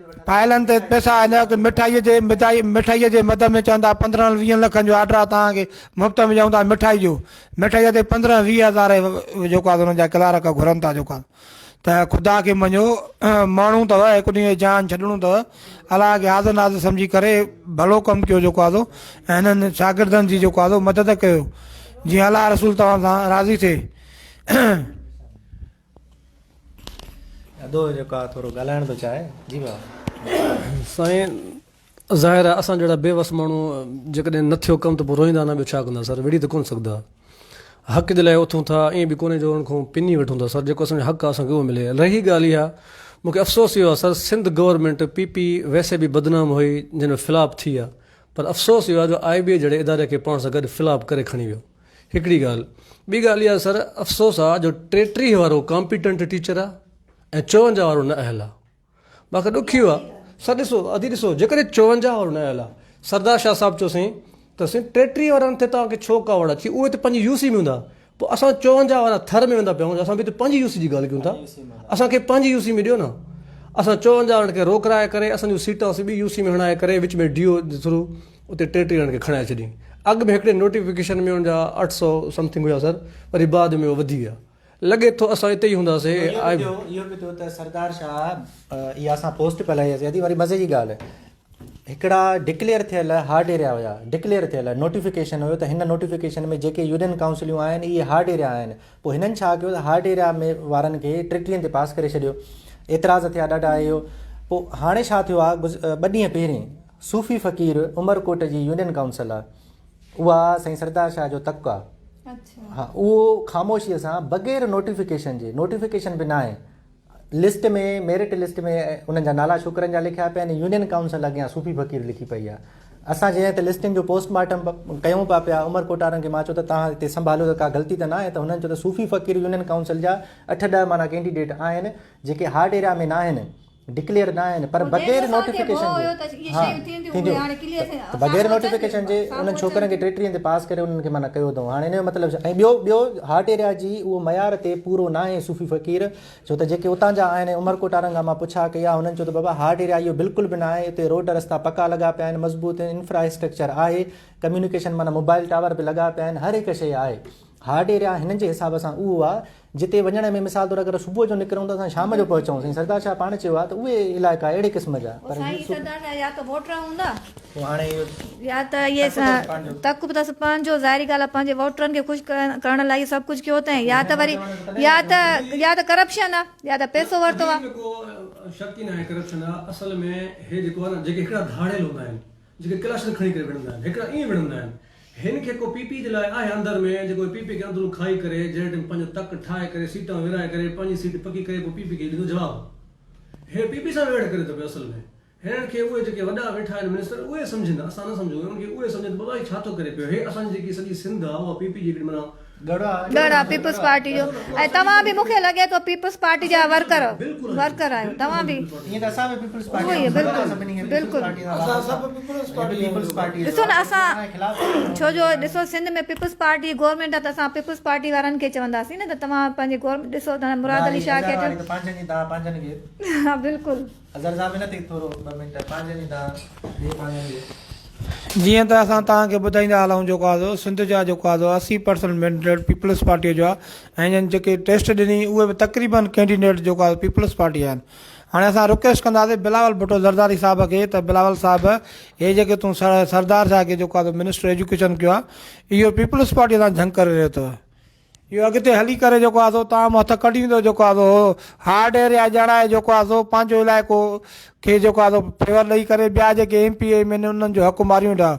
پائلن تي پئسا هليا ته مٺائيء جي مٺائيء جي مد ۾ چوندا پندرهن ويهن لکن جو آرڊر آ توهان کي مفت ۾ ڏيون ٿا مٺائي جو مٺائيء تي پندرهن ويهه هزار جيڪو آ انهن جا ڪلارڪ گهرن ٿا جيڪو آ ته خدا کي مڃو ماڻهو اٿو هڪ ڏينهن جان ڇڏڻو اٿو الله کي حاضر ناظر سمجهي ڪري ڀلو ڪم ڪيو جيڪو آ ۽ هنن شاگردن جي جيڪو آ مدد ڪيو جيئن الله رسول توهان سان راضي ٿئي ادو جيڪو آ ٿورو ڳالهائڻ ٿو چاهي جي بابا سائين ظاهر آ اسان جهڙا بي وس ماڻهو جيڪڏهن نه ٿيو ڪم ته پوء روئيندا نه ٻيو ڇا ڪندا سر وڙهي ته ڪونه سگهدا حق جي لاء اٿون ٿا ائين به ڪونهي جو انهن کان پني وٺون ٿا سر جيڪو اسان جو حق آ اسان کي اهو ملي رهي ڳالهه اها مونکي افسوس اهو آ sir Sindh government P P ويسي به بدنام هئي جنهن ۾ فلاپ ٿي آ پر افسوس اهو آ جو آء بي اي جهڙي اداري کي پاڻ سان گڏ فلاپ ڪري کڻي ويو هڪڙي ڳالهه، ٻي ڳالهه اها سر افسوس آ جو ٽيٽريهه وارو ڪامپيٽنٽ ٽيچر آ ۽ چوونجاهه وارو نه اهل آ باقي ڏکيو آ سر ڏسو ادي ڏسو جيڪڏهن چوونجاهه وارو نه اهل آ سردار شاهه صاحب چيو سائين ته سائين ٽيٽريهه وارن تي توهان کي ڇو ڪاوڙ اچي اهي ته پنهنجي يو سي ۾ هوندا پوء اسان چوونجاهه وارا ٿر ۾ ويندا پيا آهيون اسان به ته پنهنجي يو سي جي ڳالهه ڪيون ٿا اسان کي پنهنجي يو سي ۾ ڏيو نه اسان چوونجاهه وارن کي روڪرائي ڪري اسان جون سيٽون اسين ٻي يو سي ۾ هڻائي ڪري وچ ۾ ڊي او جي ٿرو اتي ٽي ٽي ڄڻن کي کڻائي ڇڏين. اڳ ۾ هڪڙي نوٽيفڪيشن ۾ ان جا اٺ سؤ سم ٿنگ هيا سر وري بعد ۾ اهي وڌي ويا. لڳي ٿو اسان اتي ئي هونداسين ۽ آء بي. اهو به ٿيو ته سردار شاهه اها اسان پوسٽ پئي لائي هياسين وري مزي جي ڳالهه هڪڙا ڊڪليئر ٿيل هارڊ ايريا هيا ڊڪليئر ٿيل نوٽيفڪيشن هيو ته هن نوٽيفڪيشن ۾ جيڪي يونين ڪائونسليون آهن اهي هارڊ ايريا آهن پوء هنن ڇا ڪيو ته هارڊ ايريا ۾ وارن کي ٽرٽين تي پاس ڪري ڇڏيو اعتراض ٿيا ڏاڍا اهو پوء هاڻي ڇا ٿيو آهي ٻه ڏينهن پهرين صوفي فقير عمر ڪوٽ جي يونين ڪائونسل آ اها سائين سردار شاهه جو تڪ آ اڇا اهو خاموشي سان بغير نوٽيفڪيشن جي نوٽيفڪيشن به ناهي لسٽ ۾ ميرٽ لسٽ ۾ انهن جا نالا شوڪرن جا لکيا پيا آهن يونين ڪائونسل اڳيان صوفي فقير لکي پئي آ اسان جنهن هت لسٽن جو پوسٽ مارٽم ڪيون پا پيا عمر ڪوٽارن کي مان چو ته تان هتي سنڀاليو ته ڪا غلطي ته ناهي ته هنن چو ته صوفي فقير يونين ڪائونسل جا اٺ ڏهه مانا ڪينڊيڊيٽ آهن جيڪي هارڊ ايريا ۾ ناهن ڊڪليئر نه آهن پر بغير نوٽيفڪيشن جي ها ٿينديون بغير نوٽيفڪيشن جي انهن ڇوڪرن کي ٽيٽرين تي پاس ڪري انهن کي معنيٰ ڪيو اٿئون هاڻي ان جو مطلب ڇا ۽ ٻيو ٻيو هارٽ ايريا جي اهو معيار تي پورو نه آهي صوفي فقير ڇو ته جيڪي اتان جا آهن عمرڪوٽ وارن کان مان پڇا ڪئي آهي هنن چيو ته بابا هارٽ ايريا اهو بلڪل به نه آهي اتي روڊ رستا پڪا لڳا پيا آهن مضبوط انفراسٽرڪچر آهي ڪميونيڪيشن معنيٰ موبائل ٽاور به لڳا پيا آهن هر هڪ شيء آهي هارڊ ايريا هنن جي حساب سان اهو آ جتي وڃڻ ۾ مثال طور اگر صبح جو نڪرون ته اسان شام جو پهچون سائين سردار شاهه پاڻ چيو آ ته اهي علائقا اهڙي قسم جا پر سائين سردار شاهه يا ته ووٽر هوندا پوء هاڻي اهو يا ته اهي تڪ به اٿس پنهنجو ظاهري ڳالهه آ پنهنجي ووٽرن کي خوش ڪرڻ لاء اهو سڀ ڪجهه ڪيو اٿئين يا ته وري يا ته يا ته ڪرپشن آ يا ته پئسو ورتو آ. ڪو شڪ ئي ناهي ڪرپشن آ اصل ۾ هي جيڪو آ نه جيڪي هڪڙا ڌاڙيل هوندا آهن جيڪي ڪلاشن کڻي ڪري وڙهندا آهن هڪڙا ائين وڙهندا آهن هن کي ڪو پي پي جي لاء آهي اندر ۾ جيڪو هي پي پي کي اندرون کائي ڪري جهڙي ٽيم پنهنجو تڪ ٺاهي ڪري سيٽان ورهائي ڪري پنهنجي سيٽ پڪي ڪري پوء پي پي کي ڏيندو جواب هي پي پي سان ويڙهه ڪري ٿو پيو اصل ۾ هنن کي اهي جيڪي وڏا ويٺا آهن منسٽر اهي سمجهن اسان نه سمجهون انهن کي اهي سمجهن ته بابا هي ڇا ٿو ڪري پيو هي اسان جي جيڪي سڄي سنڌ آهي اها پي پي جي هڪڙي معنيٰ ڳڙها پيپلز پارٽي جو ۽ توهان به مون کي لڳي ٿو پيپلز پارٽي جا ورڪر ورڪر آهيو توهان به اهو ئي بلڪل بلڪل ڏسو نه اسان ڇو جو ڏسو سنڌ ۾ پيپلز پارٽي گورمينٽ آهي ته اسان پيپلز پارٽي وارن کي چونداسين نه ته توهان پنهنجي گورمينٽ ڏسو ته مراد علي شاهه کي اچو ها بلڪل اظهر صاحب هن تي ٿورو ٻه منٽ پنهنجن ئي دان ڏي پاڻيان جي. جيئن ته اسان توهان کي ٻڌائيندا هلون جيڪو آزو سنڌ جا جيڪو آزو اسي پرسنٽ مينڊيٽ پيپلز پارٽي جو آ ۽ جن جيڪي ٽيسٽ ڏني اهي به تقريبن ڪينڊينيٽ جيڪو آزو پيپلز پارٽي جا آهن هاڻي اسان رڪويسٽ ڪنداسي بلاول ڀٽو زرداري صاحب کي ته بلاول صاحب هي جيڪي تون سردار شاهه کي جيڪو آزو منسٽر ايجوڪيشن ڪيو آ اهو پيپلز پارٽي سان جنگ ڪري رهيو ٿو اهو اڳتي هلي ڪري جيڪو آهي سو تمام هٿ ڪڍيندو جيڪو آهي سو هارڊ ايريا ڄڻائي جيڪو آهي سو پنهنجو علائقو کي جيڪو آهي سو فيور ڏئي ڪري ٻيا جيڪي M P A M N A انهن جو حق ماريون ڏا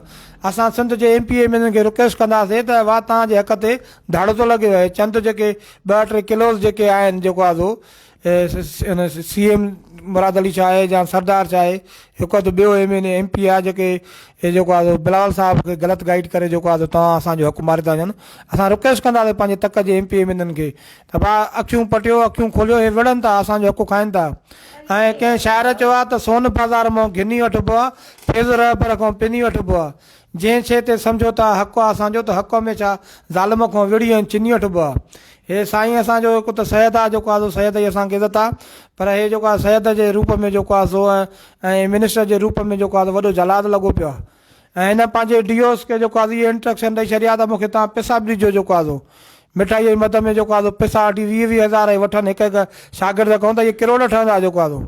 اسان سنڌ جي M P A M N N کي رڪويسٽ ڪنداسي ته واهه تهان جي حق تي ڌڙ ٿو لڳيو اهي چند جيڪي ٻه ٽي ڪلوز جيڪي آهن جيڪو آهي سو سي ايم مراد علي شاهه آهي يا سردار شاهه آهي هڪ اڌ ٻيو M N A M P آهي جيڪي هي جيڪو آهي سو بلاول صاحب کي غلط گائيڊ ڪري جيڪو آهي سو توهان اسانجو حق ماري ٿا وڃن اسان رڪويسٽ ڪنداسين پنهنجي تڪ جي M P M N N کي ته ڀا اکيون پٽيو اکيون کوليو هي وڙهن ٿا اسانجو حق کائن ٿا ۽ ڪنهن شاعر چيو آهي ته سون بازار مئو گهني وٺبو آهي فيض رهبر کان پني وٺبو آهي جنهن شيء تي سمجهو ته حق آ اسان جو ته حق هميشه ظالم کان وڙهي ۽ چني وٺبو آ. هي سائين اسان جو هڪ ته سيد آ جيڪو آ سو سيد جي اسان کي عزت آ پر هي جيڪو آ سيد جي روپ ۾ جيڪو آ سو ۽ منسٽر جي روپ ۾ جيڪو آ سو وڏو جلاد لڳو پيو آ ۽ هن پنهنجي ڊي اوس کي جيڪو آ سو اهي انٽرڪشن ڏئي ڇڏيا ته مون کي توهان پيسا به ڏجو جيڪو آ سو مٺائيء جي مد ۾ جيڪو آدو پئسا وٺي ويهه ويهه هزار ۽ وٺن هڪ هڪ شاگرد کان ته اهي ڪروڙ ٺهندا جيڪو آدو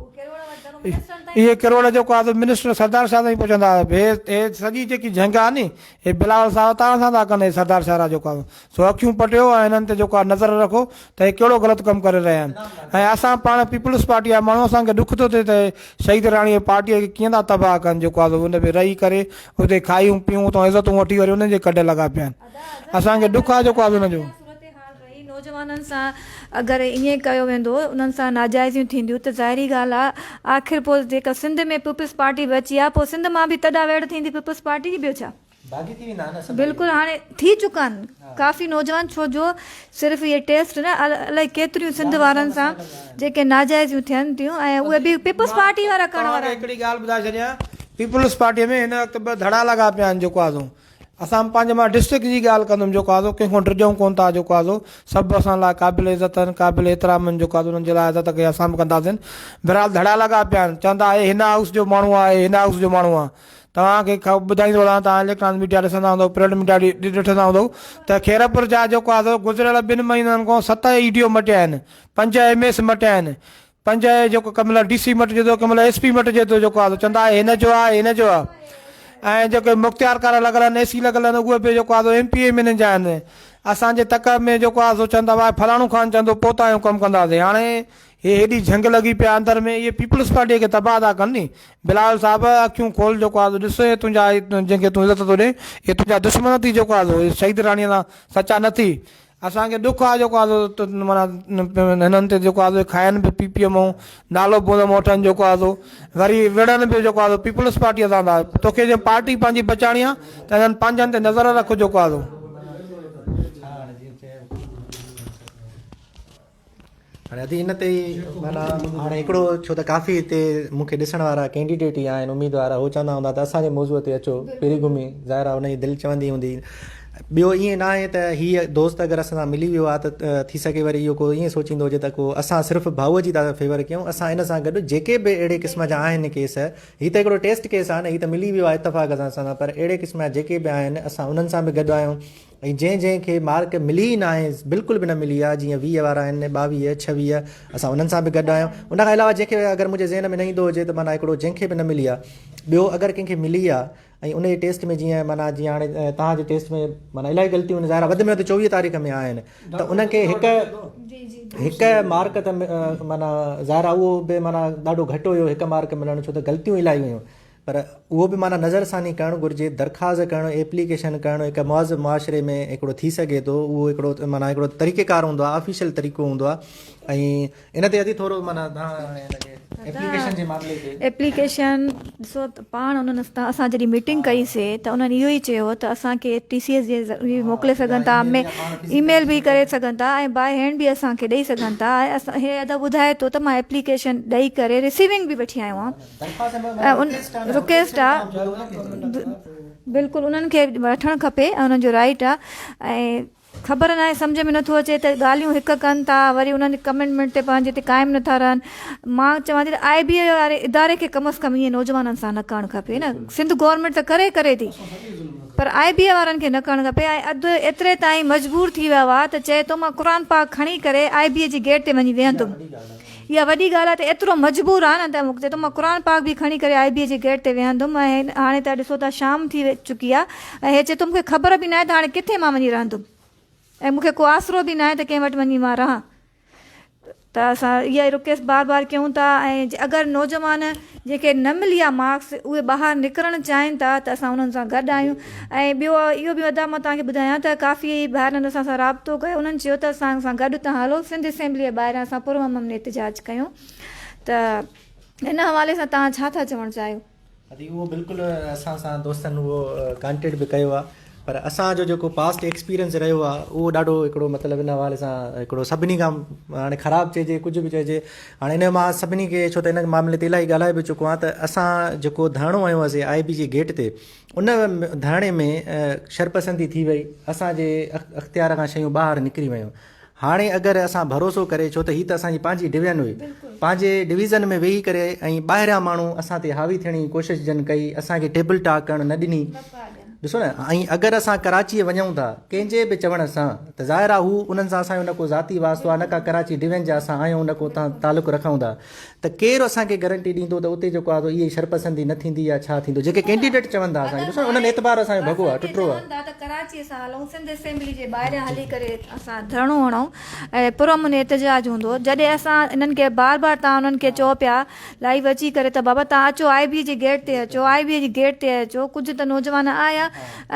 اهي ڪروڙ جيڪو آدو منسٽر سردار شاهه تائين پهچندا هي هي سڄي جيڪي جهنگ آهي ني هي بلاول صاحب توهان سان ٿا ڪن هي سردار شاهه را جيڪو آدو سو اکيون پٽيو ۽ هنن تي جيڪو آهي نظر رکو ته هي ڪهڙو غلط ڪم ڪري رهيا آهن ۽ اسان پاڻ پيپلز پارٽي جا ماڻهو اسان کي ڏک ٿو ٿئي ته شهيد راڻي پارٽيء کي ڪيئن ٿا تباهه ڪن جيڪو آدو ان ۾ رهي ڪري اتي کايون پيئون اتان عزتون وٺي وري انهن جي ڪڍ لڳا پيا آهن اسان کي ڏک آ جيڪو آ ويھڻ جو. صورتحال رھي نوجوانن سان اگر ائين ڪيو ويندو انھن سان ناجائزيون ٿينديون ته ظاھري ڳالھ آ آخر پوء جيڪا سنڌ ۾ پيپلز پارٽي به اچي آ پوء سنڌ مان به تڏا ويڙھ ٿيندي پيپلز پارٽي جي ٻيو ڇا. باغي ٿي ويندا نه سڀ. بلڪل ھاڻي ٿي چڪا آھن ڪافي نوجوان ڇو جو صرف اھي ٽيسٽ نه الائي ڪيتريون سنڌ وارن سان جيڪي ناجائزيون ٿين ٿيون ۽ اھي به پيپلز پارٽي وارا ڪرڻ وارا آھن. توھان کي ھڪڙي ڳالھ ٻڌائي ڇڏيان پيپلز پارٽي ۾ ھن وقت ٻه ڌڙا لڳا پيا آھن جيڪو آ سو اسان پنهنجي مان ڊسٽرڪٽ جي ڳالهه ڪندم جيڪو آزو ڪنهن کان ڊڄون ڪونه ٿا جيڪو آزو سڀ اسان لاء قابل عزت آهن قابل احترام آهن جيڪو آزو انهن جي لاء عزت ڪئي اسان به ڪنداسين بهرحال ڌڙا لڳا پيا آهن چون ٿا هي هن هائوس جو ماڻهو آهي هي هن هائوس جو ماڻهو آهي توهان کي ٻڌائيندو رهان توهان اليڪٽرانڪ ميڊيا ڏسندا هوندؤ پرنٽ ميڊيا ڏٺندا هوندؤ ته خيرپور جا جيڪو آزو گذريل ٻن مهينن کان ست اي ڊي او مٽيا آهن پنج ايم ايس مٽيا آهن پنج آهي جيڪو ڪنهن مهل ڊي سي مٽجي ٿو ڪنهن مهل ايس پي مٽجي ٿو جيڪو آهي چوندا آهي هن جو آهي هن جو آهي ۽ جيڪي مختيار ڪارا لڳل آهن اي سي لڳل آهن اهي به جيڪو آهي M P M N N جا آهن اسان جي تڪ ۾ جيڪو آهي سو چوندا هئا فلاڻو خان چوندو پوء تان اهو ڪم ڪنداسين هاڻي هي هيڏي جهنگ لڳي پيا اندر ۾ اهي پيپلز پارٽي کي تباهه ٿا ڪن ني بلاول صاحب اکيون کول جيڪو آهي ڏس اهي تنهنجا جنهن کي تون عزت ٿو ڏين اهي تنهنجا دشمن ٿي جيڪو آهي سو شهيد راڻي سان سچا نه ٿي اسان کي ڏک آ جيڪو آسو معنيٰ هنن تي جيڪو آسو کائن به پي پي ايم مون نالو بوند موٽن جيڪو آسو وري وڙهن به جيڪو آسو پيپلز پارٽي سان ٿا توکي جي پارٽي پنهنجي بچاڻي آ ته هنن پنهنجن تي نظر رک جيڪو آسو هاڻي ادي ان تي معنيٰ هاڻي هڪڙو ڇو ته ڪافي هتي مون کي ڏسڻ وارا ڪينڊيڊيٽ ئي آهن اميدوار هو چوندا هوندا ته اسان جي موضوع تي اچو پھرين گهمي ظاهر آهي ان جي دل چوندي هوندي ٻيو ائين ناهي ته هي دوست اگر اسان سان ملي ويو آهي ته ٿي سگهي وري اهو ڪو ائين سوچيندو هجي ته ڪو اسان صرف ڀائوء جي ٿا فيور ڪيون اسان ان سان گڏ جيڪي به اهڙي قسم جا آهن ڪيس هي ته هڪڙو ٽيسٽ ڪيس آهي نه هي ته ملي ويو آهي اتفاق سان اسان سان پر اهڙي قسم جا جيڪي به آهن اسان انهن سان به گڏ آهيون ۽ جنهن جنهن کي مارڪ ملي ئي ناهي بلڪل به نه ملي آهي جيئن ويهه وارا آهن ٻاويهه ڇويهه اسان انهن سان به گڏ آهيون ان کان علاوه جنهن کي اگر منهنجي ذهن ۾ نه ايندو هجي ته معنيٰ هڪڙو جنهن کي به نه ملي آهي ٻيو اگر ڪنهن کي ملي آهي ۽ ان جي ٽيسٽ ۾ جيئن معنيٰ جيئن هاڻي توهان جي ٽيسٽ ۾ معنيٰ الاهي غلطيون آهن ظاهر وڌ ۾ وڌ چوويهه تاريخ ۾ آهن ته انهن کي هڪ هڪ مارڪ ته معنيٰ ظاهر اهو به معنيٰ ڏاڍو گهٽ هيو هڪ مارڪ ملڻ ڇو ته غلطيون الاهي هيون پر اهو به معنيٰ نظر ثاني ڪرڻ گهرجي، درخواست ڪرڻ، ايپليڪيشن ڪرڻ هڪ مهذب معاشري ۾ هڪڙو ٿي سگهي ٿو، اهو هڪڙو معنيٰ هڪڙو طريقه ڪار هوندو آهي، آفيشل طريقو هوندو آهي ۽ ان تي ادي ٿورو معنيٰ تان هاڻي هن کي ايپليڪيشن جي معاملي تي. ايپليڪيشن ڏسو ته پاڻ انهن اسان اسان جڏهن ميٽنگ ڪئي سي ته انهن اهو ئي چيو ته اسان کي ٽي سي ايس جي ذريعي موڪلي سگهن ٿا اي ميل به ڪري سگهن ٿا ۽ بائي هينڊ به اسان کي ڏئي سگهن ٿا ۽ اهي ادا ٻڌائي ٿو ته مان ايپليڪيشن ڏئي ڪري رسيونگ به وٺي آيو آهيان رڪويسٽ آ بلڪل انهن کي وٺڻ کپي ۽ انهن جو رائيٽ آ ۽ خبر ناهي سمجهه ۾ نٿو اچي ته ڳالهيون هڪ ڪن ٿا وري انهن جي ڪمنٽمينٽ تي پنهنجي تي قائم نٿا رهن مان چوان ٿي ته آئي بي اي واري اداري کي ڪم از ڪم ائين نوجوانن سان نه ڪرڻ کپي نه سنڌ گورنمينٽ ته ڪري ڪري ٿي پر آئي بي اي وارن کي نه ڪرڻ کپي ۽ اڌ ايتري تائين مجبور ٿي ويا هئا ته چئي ٿو مان قرآن پاڪ کڻي ڪري آئي بي اي جي گيٽ تي وڃي ويهندم اها وڏي ڳالهه آهي ته ايترو مجبور آهي نه ته مون چيو ته مان قرآن پاڪ به کڻي ڪري آء بي اي جي گيٽ تي ويهندم ۽ هاڻي ته ڏسو ٿا شام ٿي چڪي آهي ۽ هي چئي ٿو مون کي خبر به ناهي ته هاڻي ڪٿي مان وڃي رهندم ۽ مون کي ڪو آسرو به ناهي ته ڪنهن وٽ وڃي مان رهان ته اسان اها رڪويسٽ بار بار ڪيون ٿا ۽ اگر نوجوان جن کي نه مليا مارڪس اهي ٻاهر نڪرڻ چاهين ٿا ته اسان انهن سان گڏ آهيون ۽ ٻيو اهو به ادا مان توهان کي ٻڌايان ته ڪافي ڀائرن اسان سان رابطو ڪيو انهن چيو ته اسان سان گڏ توهان هلو سنڌ اسيمبلي جي ٻاهران اسان پرامن احتجاج ڪيون ته ان حوالي سان توهان ڇا ٿا چوڻ چاهيو. ادي اهو بلڪل اسان سان دوستن اهو ڪانٽيڪٽ به ڪيو آهي. پر اسان جو جيڪو پاسٽ ايڪسپيرينس رهيو آهي اهو ڏاڍو هڪڙو مطلب ان حوالي سان هڪڙو سڀني کان هاڻي خراب چئجي ڪجهه به چئجي هاڻي ان جو مان سڀني کي ڇو ته ان معاملي تي الاهي ڳالهائي به چڪو آهيان ته اسان جيڪو ڌرڻو هنيو هوسي آء بي جي گيٽ تي ان ڌرڻي ۾ شرپسندي ٿي وئي اسان جي اختيار کان شيون ٻاهر نڪري ويون هاڻي اگر اسان ڀروسو ڪري ڇو ته هي ته اسان جي پنهنجي ڊويزن هئي پنهنجي ڊويزن ۾ ويهي ڪري ۽ ٻاهريان ماڻهو اسان تي حاوي ٿيڻ جي ڪوشش جن ڪئي اسان کي ٽيبل ٽاڪ ڪرڻ نه ڏني ڏسو نه ۽ اگر اسان ڪراچي وڃون ٿا ڪنهن جي به چوڻ سان ته ظاهر آ هو انهن سان اسان جو نه ڪو ذاتي واسطو آ نه ڪا ڪراچي ڊويزن جا اسان آهيون نه ڪو تعلق رکون ٿا ته ڪير اسان کي گرنٽي ڏيندو ته اتي جيڪو آزو اهي شرپسندي نه ٿيندي يا ڇا ٿيندو جيڪي ڪينڊيڊيٽ چون ٿا اسان کي ڏسو انهن اعتبار اسان جو ڀڳو آهي ٽٽو آهي. چون ٿا ته ڪراچي اسان هلون سنڌ اسيمبلي جي ٻاهريان هلي ڪري اسان ڌرڻو هڻون ۽ پرامن احتجاج هوندو جڏهن اسان انهن کي بار بار تان انهن کي چئو پيا لائيو اچي ڪري ته بابا تان اچو آء بي جي گيٽ تي اچو آء بي جي گيٽ تي اچو ڪجهه ته نوجوان آيا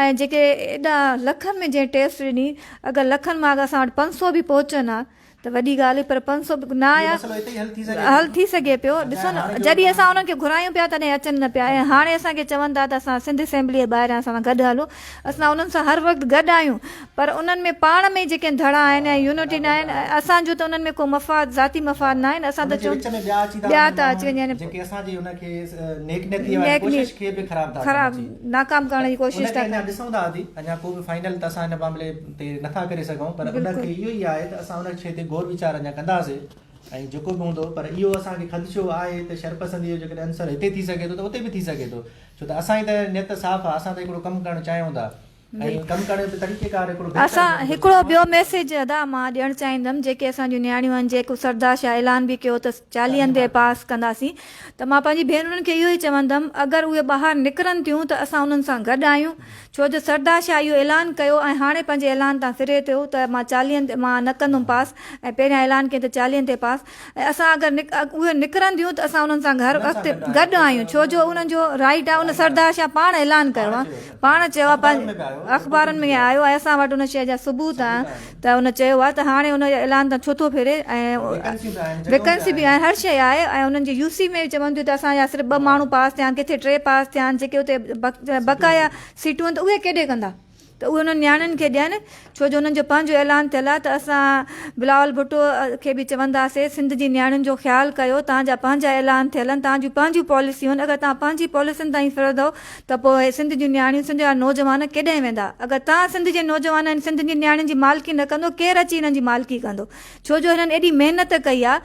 ۽ جيڪي ايڏا لکن ۾ جنهن ٽيسٽ ڏني اگر لکن مان اگر اسان وٽ پنج سو به پهچن ها ته وڏي ڳالهه هئي پر پنج سؤ به نه آيا. اهو مسئلو حل ٿي سگهي پيو. ڏسو نه جڏهن اسان انهن کي گهرايون پيا تڏهن اچن نه پيا ۽ هاڻي اسان کي چون ٿا ته اسان سنڌ اسيمبلي جي ٻاهريان اسان سان گڏ هلو. اسان انهن سان هر وقت گڏ آهيون پر انهن ۾ پاڻ ۾ جيڪي ڌڙا آهن ۽ يونٽي نه آهن اسان جو ته انهن ۾ ڪو مفاد ذاتي مفاد نه آهن اسان ته چون ٻيا ته اچي وڃن خراب ناڪام ڪرڻ جي ڪوشش ٿا ڪن. تي نٿا ڪري سگهون پر ان کي اهو ئي آهي ته اسان ان شيء تي غور ويچار اڃا ڪنداسين ۽ جيڪو به هوندو پر اهو اسان کي خدشو آهي ته شرپسنديء جو جيڪڏهن عنصر هتي ٿي سگهي ٿو ته اتي به ٿي سگهي ٿو ڇو ته اسان جي ته نيت صاف آهي اسان ته هڪڙو ڪم ڪرڻ چاهيون ٿا ۽ ڪم ڪرڻ جو طريقه ڪار هڪڙو بهتر اسان هڪڙو ٻيو ميسيج ادا مان ڏيڻ چاهيندم جيڪي اسان جون نياڻيون آهن جيڪو سردار شاهه اعلان به ڪيو ته چاليهن بي پاس ڪنداسين ته مان پنهنجي ڀينرن کي اهو ئي چوندم اگر اهي ٻاهر نڪرن ٿيون ته اسان انهن سان گڏ آهيون ڇو جو سردار شاهه اهو اعلان ڪيو ۽ هاڻي پنهنجي اعلان تان ڦري ٿيو ته مان چاليهن تي مان نه ڪندم پاس ۽ پهريان اعلان ڪيائين ته چاليهن تي پاس ۽ اسان اگر اهي نڪرنديون ته اسان انهن سان هر وقت گڏ آهيون ڇو جو انهن جو رائيٽ آهي ان سردار شاهه پاڻ اعلان ڪيو آهي پاڻ چيو آهي اخبارن ۾ آيو آهي اسان وٽ ان شيء جا ثبوت آهن. ته ان چيو آهي ته هاڻي ان اعلان تان ڇو ٿو ڦري ۽ ويڪنسي به آهي هر شيء آهي ۽ انهن جي يو سي ۾ چون ٿيون ته اسان جا صرف ٻه ماڻهو پاس ٿيا آهن ڪٿي ٽي پاس ٿيا آهن جيڪي اتي بقايا سيٽون آهن ته اهي ڪيڏي ڪندا ته اهي انهن نياڻين کي ڏين ڇو جو انهن جو پنهنجو اعلان ٿيل آهي ته اسان بلاول ڀٽو کي به چونداسين سنڌ جي نياڻين جو خيال ڪيو تهان جا پنهنجا اعلان ٿيل آهن تهان جون پنهنجون پاليسيون آهن اگر تهان پنهنجي پاليسين تان ئي ڦرندؤ ته پوء اهي سنڌ جون نياڻيون، سنڌ جا نوجوان ڪيڏانهن ويندا؟ اگر توهان سنڌ جي نوجوانن ۽ سنڌ جي نياڻين جي مالڪي نه ڪندو، ڪير اچي هنن جي مالڪي ڪندو؟ ڇو جو هنن ايڏي محنت ڪئي آ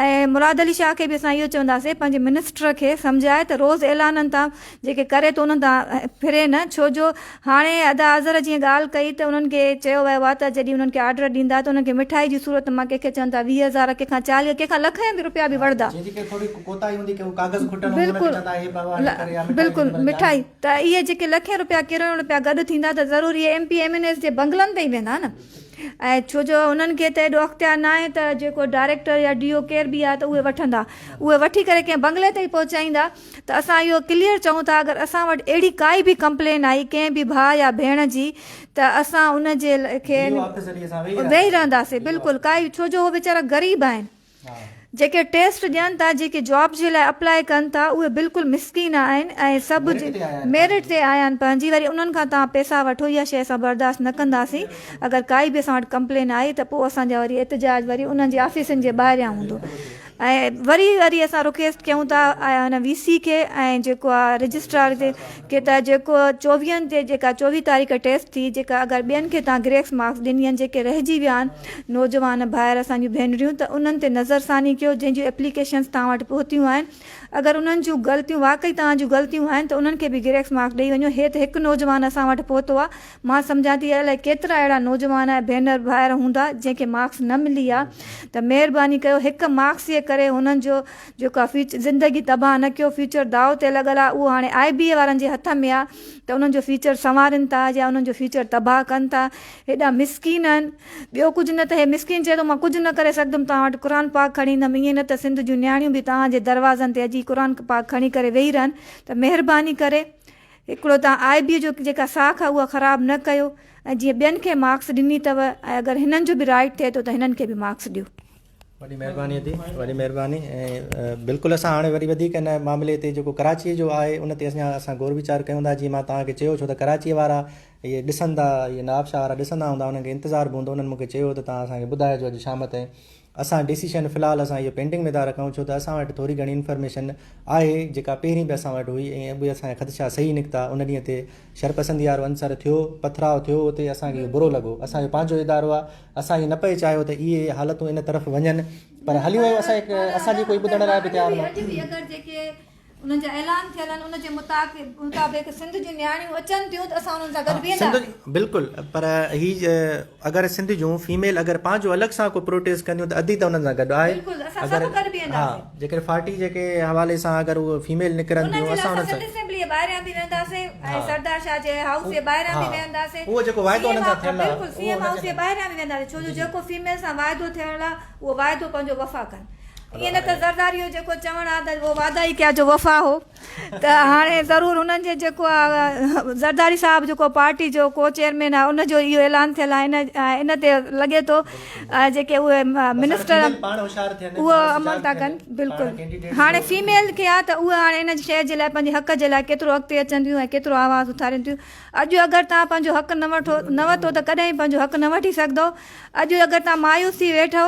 ۽ مراد علي شاهه کي به اسان اهو چونداسين پنهنجي منسٽر کي سمجهائي ته روز اعلانن تان جيڪي ڪري ٿو انهن تان ڦري نه ڇو جو هاڻي ادا اظهر جيئن ڳالهه ڪئي ته انهن کي چيو ويو آ ته جڏهن انهن کي آرڊر ڏيندا ته انهن کي مٺائي جي صورت مان ڪنهن کي چون ٿا ويهه هزار ڪنهن کان چاليهه ڪنهن کان لکين روپيا به وڙهدا. ڪوتاهي هوندي ڪي هو ڪاغذ کٽن هوندو ان کي چوندا اهي به هوا هي ڪري يا مٺائي هوندي بلڪل مٺائي ته اهي جيڪي لکين رپيا ڪروڙين رپيا گڏ ٿيندا ته ضرور اهي M P M N As جي بنگلن تي ئي ويندا نه ۽ ڇو جو انهن کي ته ايڏو اختيار ناهي ته جيڪو ڊائريڪٽر يا ڊي او ڪير به آهي ته اهي وٺندا اهي وٺي ڪري ڪنهن بنگلي تي ئي پهچائيندا ته اسان اهو ڪليئر چئون ٿا اگر اسان وٽ اهڙي ڪائي به ڪمپلين آئي ڪنهن به ڀاء يا ڀيڻ جي ته اسان ان جي کي ويهي رهنداسين بلڪل ڪائي ڇو جو هو ويچارا غريب آهن جيڪي ٽيسٽ ڏين ٿا، جيڪي جاب جي لاء اپلاء ڪن ٿا، اهي بلڪل مسڪين آهن ۽ سڀ ميرٽ تي آيا آهن پنهنجي، وري انهن کان توهان پئسا وٺو، اها شيء اسان برداشت نه ڪنداسين، اگر ڪائي به اسان وٽ ڪمپلين آئي ته پوء اسان جا وري احتجاج وري انهن جي آفيسن جي ٻاهريان هوندو ۽ وري وري اسان رڪيسٽ ڪيون ٿا هن وي سي کي ۽ جيڪو آ رجسٽرار کي کي ته جيڪو چوويهن تي جيڪا چوويهه تاريخ ٽيسٽ ٿي جيڪا اگر ٻين کي توهان گريس مارڪس ڏني آهن جيڪي رهجي ويا آهن نوجوان ڀائر اسان جون ڀينريون ته انهن تي نظر ثاني ڪيو جنهن جون اپليڪيشنس توهان وٽ پهتيون آهن اگر انهن جون غلطيون واقعي توهان جون غلطيون آهن ته انهن کي به گريس مارڪس ڏئي وڃو هي ته هڪ نوجوان اسان وٽ پهتو آهي مان سمجهان ٿي الائي ڪيترا اهڙا نوجوان ۽ ڀينر ڀائر هوندا جنهن کي مارڪس نه ملي آهي ته مهرباني ڪيو هڪ مارڪس جي ڪري هنن جو جيڪو آء فيچر زندگي تباهه نه ڪيو فيچر داء تي لڳل آ اهو هاڻي آء بي اي وارن جي هٿ ۾ آ ته انهن جو فيچر سنوارين ٿا يا انهن جو فيچر تباهه ڪن ٿا هيڏا مسڪين آهن ٻيو ڪجهه نه ته هي مسڪين چئي ٿو مان ڪجهه نه ڪري سگهندم توهان وٽ قرآن پاڪ کڻي ايندم ائين نه ته سنڌ جون نياڻيون به توهان جي دروازن تي اچي قرآن پاڪ کڻي ڪري ويهي رهن ته مهرباني ڪري هڪڙو توهان آء بي اي جو جيڪا ساک آ اها خراب نه ڪيو ۽ جيئن ٻين کي مارڪس ڏني اٿو ۽ اگر هنن جو به رائيٽ ٿئي ٿو ته هنن کي به مارڪس ڏيو. وڏي مهرباني ادي وڏي مهرباني ۽ بلڪل اسان هاڻي وري وڌيڪ ان معاملي تي جيڪو ڪراچي جو آهي ان تي اسان اسان غور ويچار ڪيون ٿا جيئن مان توهان کي چيو ڇو ته ڪراچي وارا اهي ڏسن ٿا اهي نواب شاهه وارا ڏسندا هوندا انهن کي انتظار به هوندو انهن مون کي چيو ته توهان اسان کي ٻڌائجو اڄ شام تائين اسان ڊيسيشن في الحال اسان اهو پينڊنگ ۾ ٿا رکون ڇو ته اسان وٽ ٿوري گهڻي انفارميشن آهي جيڪا پهرين به اسان وٽ هئي ۽ اهي اسان جا خدشا صحيح نڪتا ان ڏينهن تي شرپسندي وارو عنصر ٿيو پٿراء ٿيو اتي اسان کي برو لڳو اسان جو پنهنجو ادارو آهي اسان ائين نه پئي چاهيو ته اهي حالتون ان طرف وڃن پر هليون ويون اسان هڪ اسان جي ڪوئي ٻڌڻ لاء به تيار نه هو. اگر جيڪي انهن جا اعلان ٿيل آهن ان جي مطابق سنڌ جون نياڻيون اچن ٿيون ته اسان انهن سان گڏ بيهنداسين. بلڪل پر هي اگر سنڌ جون فيميل اگر پنهنجو الڳ سان ڪو پروٽيسٽ ڪنديون ته ادي ته انهن سان گڏ آهي. بلڪل اسان سڀ گڏ بيهنداسين. جيڪڏهن فارٽي جي ڪنهن حوالي سان اگر اهي فيميل نڪرن ٿيون اسان انهن سان اسيمبلي جي ٻاهريان به ويهنداسين ۽ سردار شاهه جي هائوس جي ٻاهريان به ويهنداسين اهو جيڪو واعدو انهن سان ٿيل آهي بلڪل سي ايم هائوس جي ٻاهريان به ويهنداسين ڇو جو جيڪو فيميل سان واعدو ٿيل آهي اهو واعدو پنهنجو وفا ڪن ائين نه ته زرداري جو جيڪو چوڻ آهي ته وو وعدا هي ڪيا جو وفا هو. ته هاڻي ضرور هنن جي جيڪو آ زرداري صاحب جيڪو پارٽي جو ڪو چيئرمين آ ان جو اهو اعلان ٿيل آ ان تي لڳي ٿو جيڪي اهي منسٽر اهو عمل ٿا ڪن بلڪل هاڻي فيميل کي آ ته اهي هاڻي ان جي شهر جي لاء پنهنجي حق جي لاء ڪيترو اڳتي اچن ٿيون ۽ ڪيترو آواز اٿارين ٿيون اڄ اگر تان پنهنجو حق نه وٺو نه وتو ته ڪڏهن پنهنجو حق نه وٺي سگهندو اڄ اگر تان مايوس ٿي ويٺو